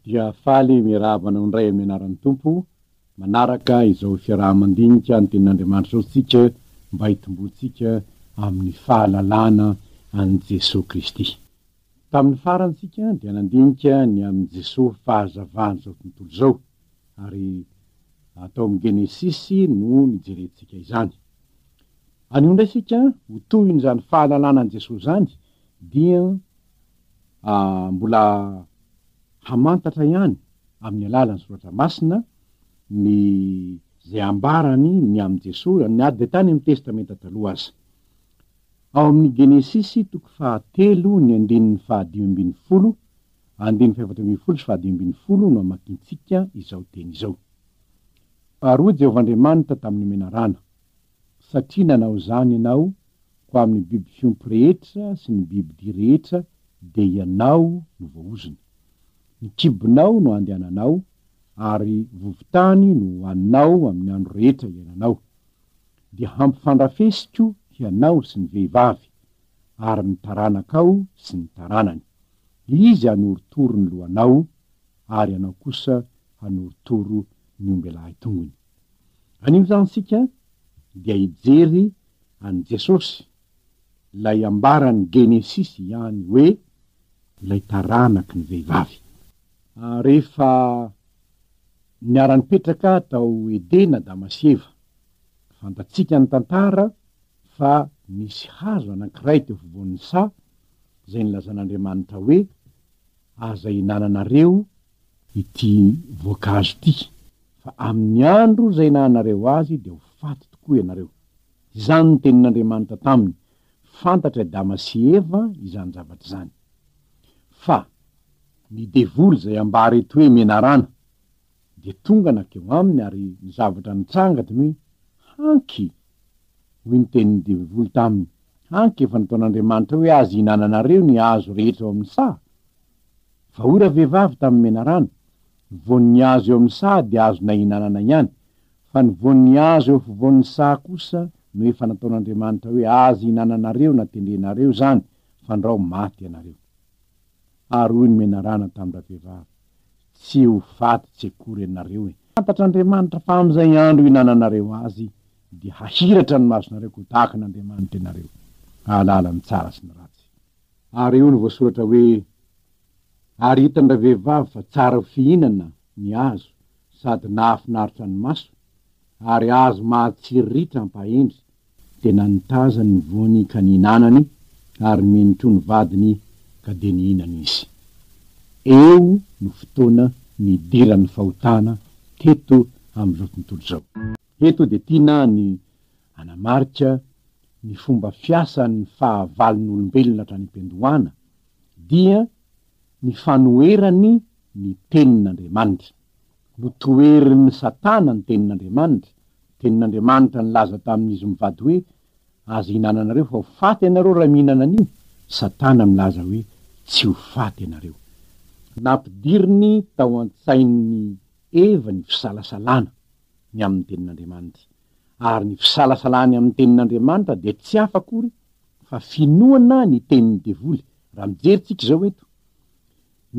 dia faly miarahaba anao indray amin'ny anaran'ny Tompo, manaraka izao fiaraha-mandinika ny Tenin'Andriamanitra izao isika mba hitomboantsika amin'ny fahalalana an'i Jesoa Kristy. Tamin'ny farany isika dia nandinika ny amin'i Jesoa fahazavan'izao tontolo izao, ary tao amin'ny Genesisy no nijerentsika izany. Anio indray isika ho tohin'izany fahalalana an'i Jesoa izany, dia. mbola hamantatra ihany amin'ny alalan'ny soratra masina ny izay ambarany ny amin'i Jesoa na dia tany amin'ny Testamenta Taloha aza. Ao amin'ny Genesisy toko fahatelo ny andininy fahadimy ambin'ny folo, andininy fahefatra ambin'ny folo sy fahadimy ambin'ny folo no amakintsika izao teny izao. Baroa Jehovah Andriamanitra tamin'ny menarana, satria nanao izany ianao Fa amin'ny biby fiompy rehetra sy ny bibidia rehetra dia ianao no voahozona. Ny kibonao no andehananao, ary vovontany no hohaninao amin'ny andro rehetra iainanao. Dia hampifandrafesiko hianao sy ny vehivavy, ary ny taranakao sy ny taranany. Izy hanorotoro ny lohanao, ary ianao kosa hanorotoro ny ombelahy tongony. Anio izany isika dia hijery an'i Jesosy, ilay ambaran'ny Genesisy ihany hoe ilay taranaky ny vehivavy. Rehefa niara-nipetraka tao Edena Adama sy Eva, fantatsika ny tantara fa nisy hazo anankiray teo afovoan'ny saha izay nilazan'Andriamanitra hoe, Aza ihinananareo ity voankazo ity, fa amin'ny andro izay nahanareo azy dia ho faty tokoa ianareo. Izany no tenin'Andriamanitra taminy, fantatry Adama sy Eva izany zavatra izany. Fa ny devoly izay ambara eto hoe menarana, dia tonga nankeo aminy ary ny zavatra nitranga dia ny hoe, Hanky! hoy ny tenin'ny devoly taminy, Hanky efa nataon'Andriamanitra hoe azo ihinananareo ny hazo rehetra ao amin'ny saha? Vahoura vehivavy tamin'ny menarana, voan'ny azo eo amin'ny saha dia azonay hinanana ihany, fa ny voan'ny azo eo afovoan'ny saha kosa no efa nataon'Andriamanitra hoe azy hinananareo na tendrenareo izany fandrao maty ianareo. Ary hoy ny menarana tamin-dravehivavy, Tsy ho faty tsy akory ianareo e! Fantatr'Andriamanitra fa amin'izay andro hinananareo azy dia hahiratra ny masonareo ka ho tahaka an'Andriamanitra ianareo, hahalala ny tsara sy ny ratsy. Ary eo no voasoratra hoe, Ary hitan-dravehivavy fa tsara ho fihinana ny azo sady nahafinaritra ny maso, ary azo mahatsiry ritra ampahendry, dia nanitazany ny voany ka nihinanany, ary mino koa ny vadiny ka dia nihinana izy. Eo no fotoana nidiran'ny fahotana teto amin'izao tontolo izao. Eto dia tiana ny hanamarika ny fomba fiasan'ny fahavalon'olombelona hatrany am-piandohana dia ny fanoherany ny Tenin'Andriamanitra. Notoherin'i Satana ny Tenin'Andriamanitra, Tenin'Andriamanitra nilaza tamin'izy mivady hoe, Aza ihinananareo fa ho faty ianareo raha mihinana an'io, Satana milaza hoe, Tsy ho faty ianareo. Nampidiriny tao an-tsain'i Eva ny fisalasalana ny amin'ny Tenin'Andriamanitra. ary ny fisalasalany amin'ny tenin'Andriamanitra dia tsy hafa akory fa finoana ny tenin'ny devoly, raha mijery tsika izao eto,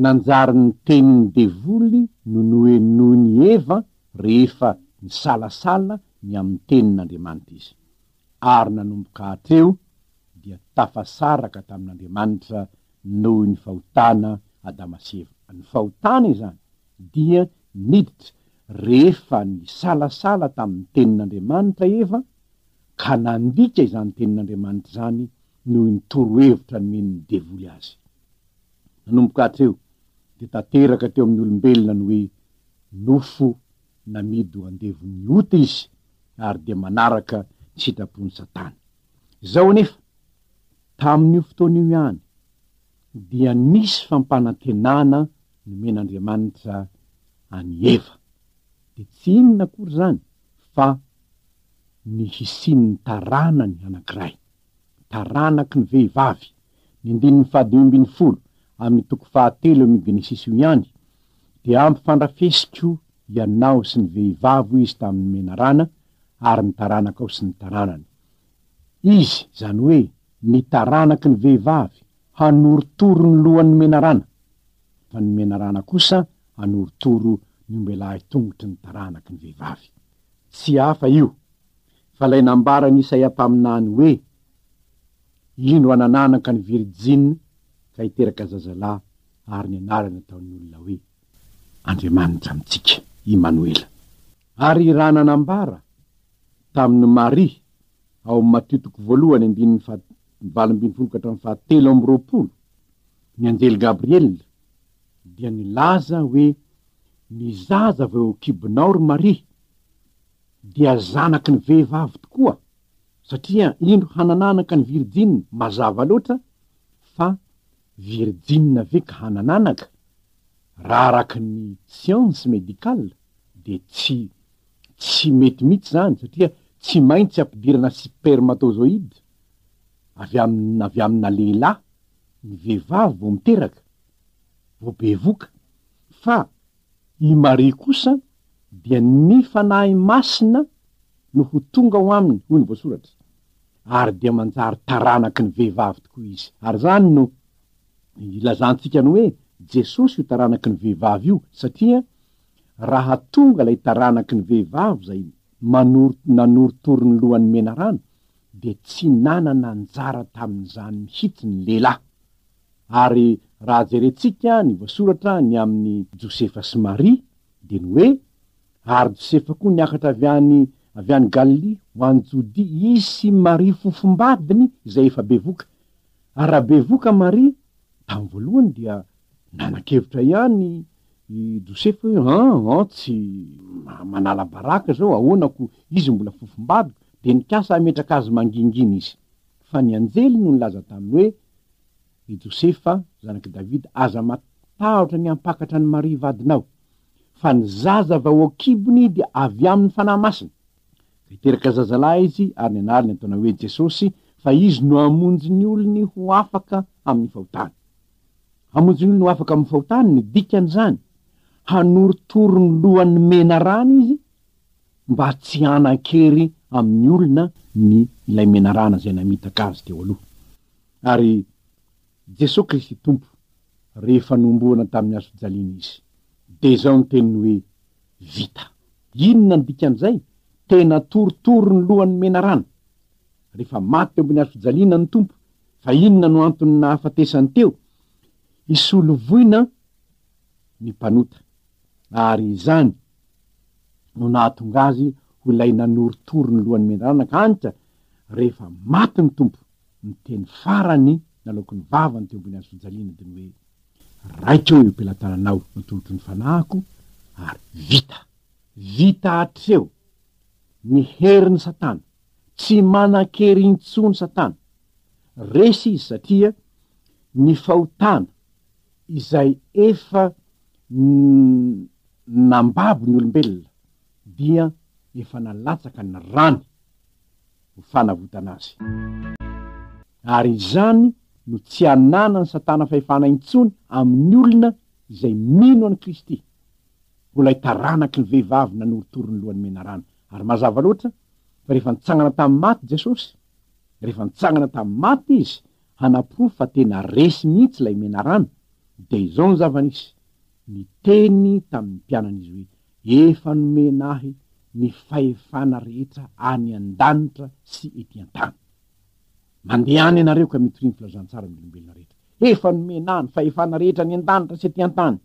nanjary ny tenin'ny devoly no nohenoin'i Eva rehefa nisalasala ny amin'ny tenin'Andriamanitra izy, ary nanomboka hatreo dia tafasaraka tamin'Andriamanitra noho ny fahotana Adama sy Eva, ny fahotana izany Dia niditra rehefa nisalasala tamin'ny Tenin'Andriamanitra Eva ka nandika izany Tenin'Andriamanitra izany noho ny torohevitra nomen'ny devoly azy. Nanomboka hatreo dia tanteraka teo amin'ny olombelona ny hoe nofo namidy ho andevon'ny ota izy ary dia manaraka ny sitrapon'i Satana. Izao anefa, tamin'io fotoana io ihany, dia nisy fampanantenana nomen'Andriamanitra an'i Eva, dia tsy inona akory izany fa ny hisian'ny taranany anankiray, taranaky ny vehivavy, ny andininy fahadimy ambin'ny folo amin'ny toko fahatelo amin'io Genesisy io ihany, Dia hampifandrafesiko ianao sy ny vehivavy, hoy Izy tamin'ny menarana, ary ny taranakao sy ny taranany. Izy, izany hoe ny taranaky ny vehivavy, hanorotoro ny lohan' ny menarana, fa ny menarana kosa hanorotoro ny ombelahy tongotry ny taranaky ny vehivavy. Tsy hafa io, fa ilay nambaran' Isaia mpaminany hoe, Indro hanananaka ny virijina ka hiteraka zazalahy, ary ny anarany hataon' ny olona hoe, Andriamanitra amintsika, Imanoela. Ary raha nanambara tamin'i Maria ao amin'ny Matio toko voalohany andininy faha valo ambin'ny folo ka hatramin'ny faha telo amby roapolo ny anjely Gabriela dia nilaza hoe ny zaza vao eo an-kibonao ry Maria dia zanaky ny vehivavy tokoa satria indro hanananaka ny virjiny mazava loatra fa Virjinina ve ka hanan'anaka? Raha araka ny science médicale dia tsy tsy mety mihitsy izany satria tsy maintsy ampidirana spermatozoïde avy amin avy amina lehilahy ny vehivavy vao miteraka, vao bevoka, fa I Maria kosa dia ny Fanahy Masina no ho tonga ao aminy, hoy ny voasoratra, ary dia manjary taranaky ny vehivavy tokoa izy. Ary izany no ilazantsika ny hoe Jesosy io taranaky ny vehivavy io, satria raha tonga ilay taranaky ny vehivavy izay manoro, nanorotoro ny lohan'ny menarana, dia tsy nanana anjara tamin'izany mihitsy ny lehilahy. Ary raha jerentsika ny voasoratra ny amin'i Josefa sy Maria dia ny hoe, Ary Josefa koa niakatra avy any avy any Galilia ho any Jodia izy sy Maria fofombadiny izay efa bevoka. Ary raha bevoka Maria, tamin'ny voalohany dia nanan-kevitra ihany i Josefa hoe, an, an, tsy manala baraka izao, ahoana koa izy mbola fofombadiko, dia nikasa hametraka azy mangingina izy. Fa ny anjely no nilaza taminy hoe, Ry Josefa, zanak'i Davida, aza matahotra ny hampakatra an'i Maria vadinao, fa ny zaza avy ao an-kibony dia avy amin'ny Fanahy Masina. Ka hiteraka zazalahy izy, ary ny anarany hataonao hoe Jesosy, fa izy no hamonjy ny olony ho afaka amin'ny fahotany. Hamonjy ny olony ho afaka amin'ny fahotany, ny dikan'izany, hanorotoro ny lohan'ny menarana izy, mba tsy hanan-kery amin'ny olona ny ilay menarana izay namitaka azy teo aloha. Ary Jesoa Kristy Tompo, rehefa nohomboana tamin'ny hazofijaliana Izy, dia izao ny teniny hoe, Vita. Inona ny dikan'izay? Tena torotoro ny lohan'ny menarana. Rehefa maty teo ambony hazofijaliana ny Tompo, fa inona no antony nahafatesany teo? Hisolo voina ny mpanota, ary izany no nahatonga azy ho ilay nanorotoro ny lohan'ny mendrana ka anitra rehefa maty ny Tompo, ny teny farany nalaoko ny vavany teo ambony hazofijaliana dia ny hoe, Raiko eo am-pelatananao no tolotro ny fanahiko, ary vita! Vita hatreo ny herin'i Satana, tsy manan-kery intsony Satana, resy izy satria ny fahotana izay efa nambabo ny olombelona dia efa nalatsaka ny rany ho fanavotana azy. Ary izany no tsy ananan'i Satana fahefana intsony amin'ny olona izay mino an'i Kristy, ho ilay taranaky ny vehivavy nanorotoro ny lohan'ny menarana. Ary mazava loatra fa rehefa nitsangana tamin'ny maty Jesosy, rehefa nitsangana tamin'ny maty Izy, Hanaporofo fa tena resy mihitsy ilay menarana dia izao ny zava-nisy, niteny tamin'ny mpianany izy hoe, Efa nomena ahy ny fahefana rehetra any an-danitra sy ety an-tany. Mandeha any ianareo ka mitoria ny filazantsara amin'ny olombelona rehetra. Efa nomena ahy ny fahefana rehetra any an-danitra sy ety an-tany.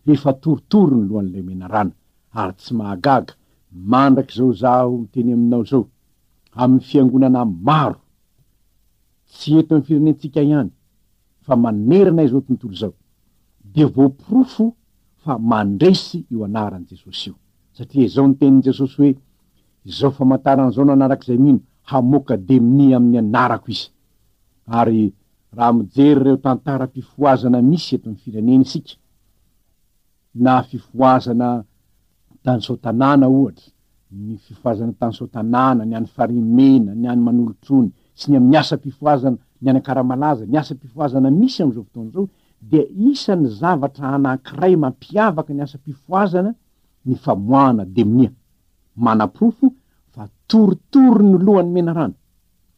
Efa torotoro ny lohan'ilay menarana, ary tsy mahagaga, mandrakizao izaho miteny aminao izao, amin'ny fiangonana maro, tsy eto amin'ny firenentsika ihany fa manerana izao tontolo izao, dia voaporofo fa mandresy io anaran'i Jesosy io. Satria izao ny tenin'i Jesosy hoe, Izao famantarana izao no hanaraka izay mino, hamoaka demonia amin'ny anarako izy. Ary raha mijery ireo tantaram-pifohazana misy eto amin'ny firenena isika, Na fifohazana tany Soatanàna ohatra, ny fifohazana tany Soatanàna, ny any Farimena, ny any Manolotrony, sy ny amin'ny asam-pifohazana, ny any Ankaramalaza, ny asam-pifohazana misy amin'izao fotoana izao, dia isan'ny zavatra anankiray mampiavaka ny asam-pifohazana ny famoahana demonia, manaporofo fa torotoro ny lohan'ny menarana,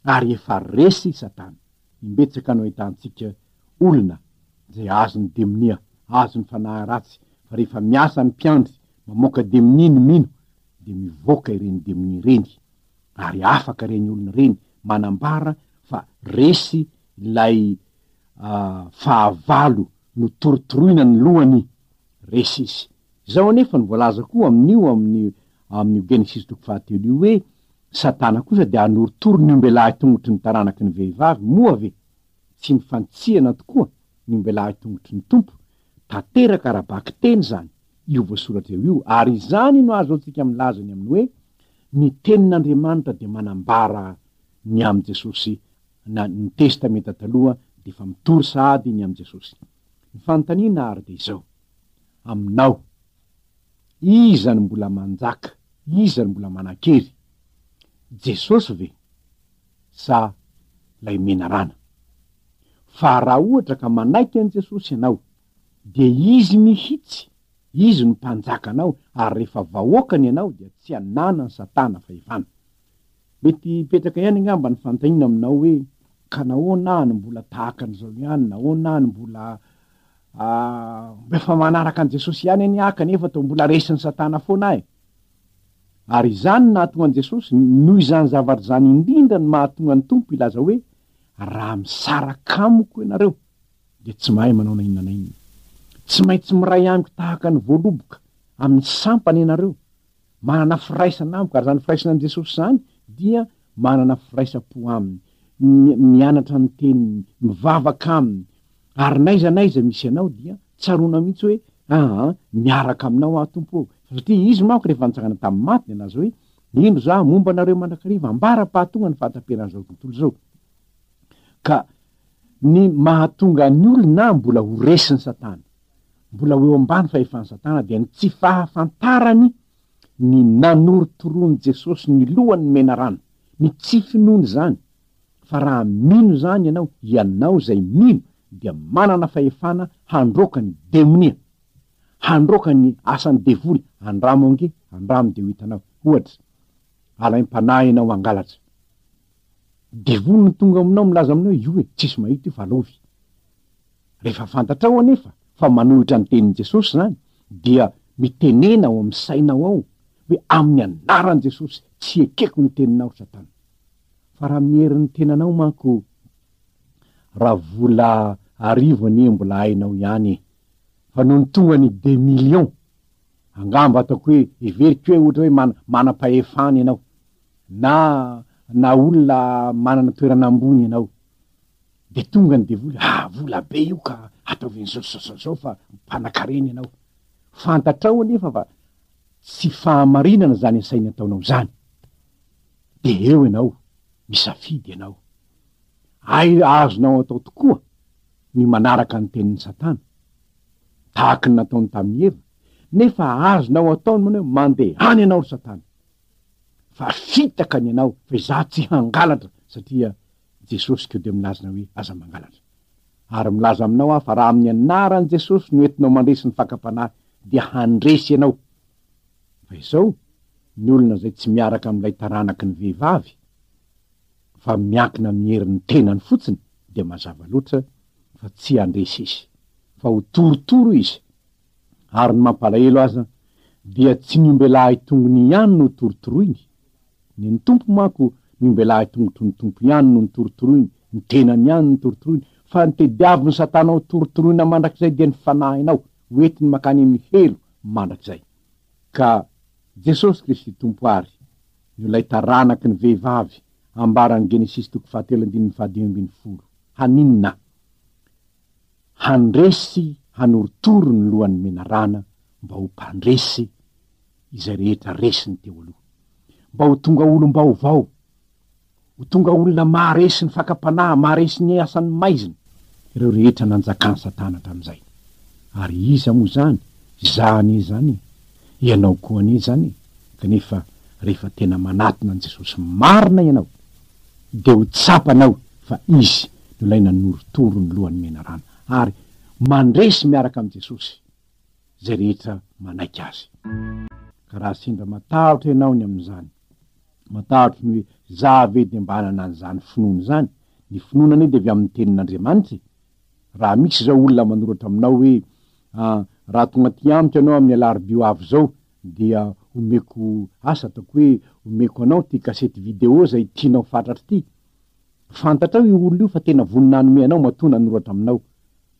ary efa resy Satana. Imbetsaka no ahitantsika Olona izay azony demonia, azony fanahy ratsy, fa rehefa miasa ny mpiandry mamoaka demonia ny mino dia mivoaka ireny demonia ireny, ary afaka ireny olona ireny manambara fa resy ilay fahavalo notorotoroina ny lohany, resy izy. Izao anefa no voalaza koa amin'io amin'ny amin'io Genesisy toko fahatelo io hoe, Satana kosa dia hanorotoro ny ombelahy tongotry ny taranaky ny vehivavy, moa ve? Tsy ny fanitsihana tokoa ny ombelahy tongotry ny Tompo, tanteraka ara-bakiteny izany io voasoratra eo io, ary izany no ahazoantsika milaza ny amin'ny hoe ny Tenin'Andriamanitra dia manambara ny amin'i Jesosy na ny Testamenta Taloha dia efa mitory sahady ny amin'i Jesosy. Ny fanontaniana àry dia izao, aminao, iza no mbola manjaka, iza no mbola manan-kery? Jesosy ve? sa ilay menarana. Fa raha ohatra ka manaiky an'i Jesosy ianao, dia Izy mihitsy, Izy no Mpanjakanao, ary rehefa vahoakany ianao dia tsy ananan'i Satana fahefana. Mety hipetraka ihany angamba ny fanontaniana aminao hoe, ka nahoana aho no mbola tahaka an'izao ihany, nahoana aho no mbola ah, mba efa manaraka an'i Jesosy ihany anie aho kanefa toa mbola resin'i Satana foana aho e. Ary izany no nahatonga an'i Jesosy, noho izany zavatra izany indrindra no mahatonga ny Tompo hilaza hoe, Raha misaraka amiko ianareo, dia tsy mahay manao na inona na inona. Tsy maintsy miray amiko tahaka ny voaloboka amin'ny sampany ianareo. Manana firaisana amiko, ary izany firaisana amin'i Jesosy izany dia manana firaisam-po Aminy, mianatra ny Teniny, mivavaka Aminy, Ary n'aiza n'aiza misy anao dia tsaroana mihitsy hoe, aa, miaraka aminao aho Tompo ô! Satria Izy manko rehefa nitsangana tamin'ny maty dia nilaza hoe, Indro izaho hamomba anareo mandrakariva ambara-pahatonga ny fahataperan'izao tontolo izao. Ka ny mahatonga ny olona mbola ho resin'i Satana, mbola ho eo ambany fahefan'i Satana dia ny tsy fahafantarany ny nanorotoroan'i Jesosy ny lohan'ny menarana, ny tsy finoany izany, Fa raha mino izany ianao, ianao izay mino dia manana fahefana handroaka ny demonia, handroaka ny asan'ny devoly, andramo ange, andramo dia ho hitanao, ohatra, alaim-panahy ianao hangalatra, devoly no tonga aminao milaza aminao io e, tsisy mahita io fa lovy, rehefa fantatrao anefa fa manohitra ny tenin'i Jesosy izany dia mitenena ao amin'ny sainao ao hoe amin'ny anaran'i Jesosy tsy ekeko ny teninao Satana. fa raha amin'ny herin'ny tenanao manko raha vola arivo anie mbola hainao ihany e! fa nony tonga ny des millions angamba ataoko hoe heveriko hoe ohatra hoe mana- manam-pahefana ianao na na olona manana toerana ambony ianao de tonga ny devoly ah vola be io ka ataovy an'izao zao zao zao fa mpanan-karena ianao fantatrao anefa fa tsy fahamarinana zany asainy ataonao zany Dia eo ianao, misafidy ianao. Hay azonao atao tokoa ny manaraka ny tenin'i Satana, tahaka ny nataony tamin'i Eva, nefa azonao atao ny manao hoe, Mandehana ianao, ry Satana! Fa fitaka ny anao, fa izaho tsy hangalatra, satria Jesosy koa dia milaza hoe, Aza mangalatra. Ary milaza aminao aho fa raha amin'ny anaran'i Jesosy no entinao mandresy ny fakam-panahy, dia handresy ianao. Fa izao, ny olona izay tsy miaraka amin'ilay taranaky ny vehivavy, fa miankina amin'ny herin'ny tenany fotsiny, dia mazava loatra fa tsy handresy izy, fa ho torotoro izy. Ary ny mampalahelo aza, dia tsy ny ombelahy tongony ihany no torotoroiny, ny ny Tompo manko, ny ombelahy tongotry ny Tompo ihany no notorotoroiny, ny tenany ihany no notorotoroiny, fa ny tediavin'i Satana hotorontoroina mandrakizay dia ny fanahinao. ho entiny mankany amin'ny helo mandrakizay. Ka Jesosy Kristy Tompo àry no ilay taranaky ny vehivavy ambaran'ny Genesisy toko fahatelo andininy fahadimy ambin'ny folo. Haninona? Handresy hanorotoro ny lohan'ny menarana mba ho mpandresy izay rehetra resiny teo aloha. Mba ho tonga olom-baovao. Ho tonga olona maharesy ny fakam-panahy, maharesy ny asan'ny maizina, ireo rehetra nanjakan'i Satana hatramin'izay. Ary iza moa izany? Izaho anie izany e! Ianao koa anie izany e! Kanefa rehefa tena manatona an'i Jesosy marina ianao, dia ho tsapanao fa Izy no ilay nanorotoro ny lohan'ny menarana, ary mandresy miaraka amin'i Jesosy izay rehetra manaiky Azy. Ka raha sendra matahotra ianao ny amin'izany, Matahotra ny hoe, Za ve dia mba hanana an'izany finoana izany? Ny finoana anie dia avy amin'ny Tenin'Andriamanitra e! Raha misy izao olona manoratra aminao hoe, Ah, raha tonga aty amiko ianao amin'ny alarobia ho avy izao, dia omeko asa ataoko hoe omeko anao ity kasety video izay tianao fatratra ity. Fantatrao io olona io fa tena vonona hanome anao matoa nanoratra aminao.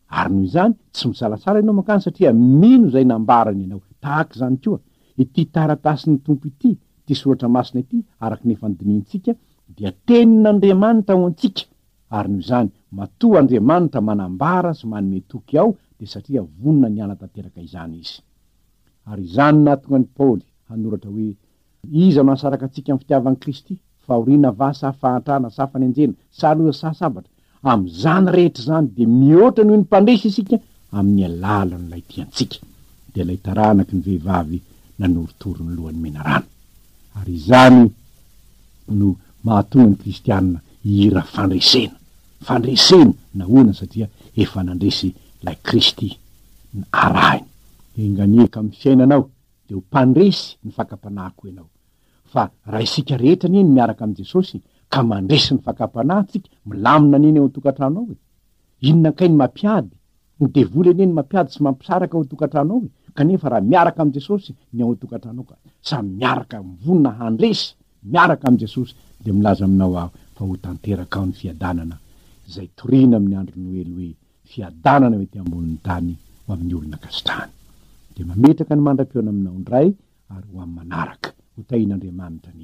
Ary noho izany, tsy misalasala ianao mankany satria mino izay nambarany ianao. Tahaka izany koa, ity taratasin'ny Tompo ity, ity soratra masina ity, araka ny efa nodinihintsika, dia Tenin'Andriamanitra ho antsika, ary noho izany, matoa Andriamanitra manambara sy manome toky ao, dia satria vonona ny hanatanteraka izany Izy. Ary izany nahatonga an'i Paoly hanoratra hoe, Iza no hahasaraka antsika amin'ny fitiavan'i Kristy? Fahoriana va sa fahantrana sa fanenjena sa loza sa sabatra? Amin'izany rehetra izany dia mihoatra noho ny mpandresy isika amin'ny alalan'ilay tia antsika, dia ilay taranaky ny vehivavy nanorotoro ny lohan'ny menarana. Ary izany no mahatonga ny kristiana hihira fandresena, fandresena, nahoana? Satria efa nandresy ilay Kristy arahiny. Enga anie ka amin'ny fiainanao. dia ho mpandresy ny fakam-panahiko ianao. Fa raha isika rehetra anie no miaraka amin'i Jesosy ka mandresy ny fakam-panahintsika, milamina anie ny ao an-tokantrano ao e! Inona kay ny mampiady? Ny devoly anie no mampiady sy mampisaraka ao an-tokantrano ao e! Kanefa raha miaraka amin'i Jesosy ny ao an-tokantranao ka samy miaraka mivonona handresy miaraka amin'i Jesosy dia milaza aminao aho fa ho tanteraka ao ny fiadanana izay torina amin'ny andro Noely hoe, fiadanana eo ety ambonin'ny tany ho amin'ny olona ankasitrahany. Dia mametraka ny mandra-pihaona aminao indray ary ho amin'ny manaraka. Ho tahin'Andriamanitra ny.